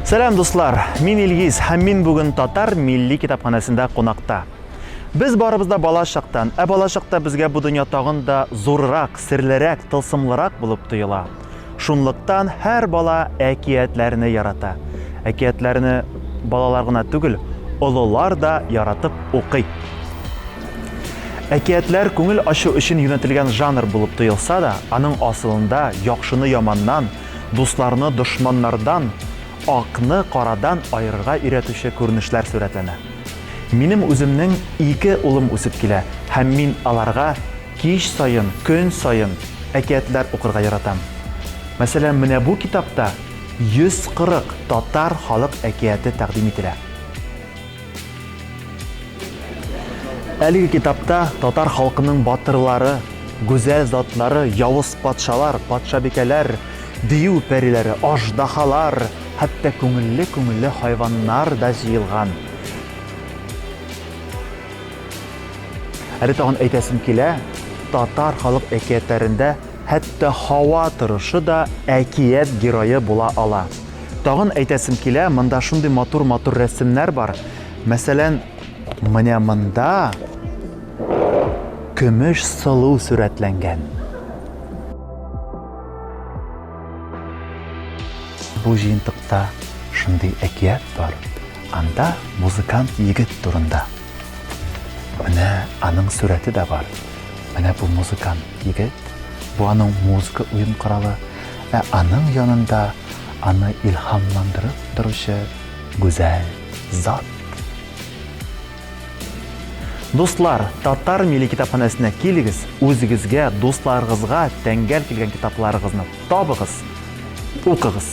Сәлам дуслар, мин Илгиз һәм мин бүген татар милли китапханәсендә кунакта. Без барыбыз да бала чактан, ә бала чакта безгә бу дөнья тагын да зуррак, серлерәк, тылсымлырак булып тоела. Шунлыктан һәр бала әкиятләрне ярата. Әкиятләрне балалар гына түгел, олылар да яратып укый. Әкиятләр күңел ачу өчен юнәтелгән жанр булып тоелса да, аның асылында яхшыны яманнан, дусларны дошманнардан, акны карадан аерырга өйрәтүче күренешләр сурәтләнә. Минем үземнең ике улым үсеп килә һәм мин аларга кич саен, көн саен әкиятләр укырга яратам. Мәсәлән, менә бу китапта 140 татар халык әкияте тәкъдим ителә. Әлеге китапта татар халкының батырлары, гүзәл затлары, явыз патшалар, патшабикәләр, дию пәриләре, аждахалар, хәтта күңелле-күңелле хайваннар да җыелган. Әле тагын әйтәсем килә, татар халык әкиятләрендә хәтта һава торышы да әкият герое була ала. Тагын әйтәсем килә, монда шундый матур-матур рәсемнәр бар. Мәсәлән, менә монда көмеш сылу сурәтләнгән. Бу җыентыкта шундый әкият бар. Анда музыкант егет турында. Менә аның сурәте дә бар. Менә бу музыкант егет. Бу аның музыка уен коралы. Ә аның янында аны илһамландырып торучы гүзәл зат. Дуслар, татар милли китапханәсенә килегез, үзегезгә, дусларыгызга тәңгәл килгән китапларыгызны табыгыз, укыгыз.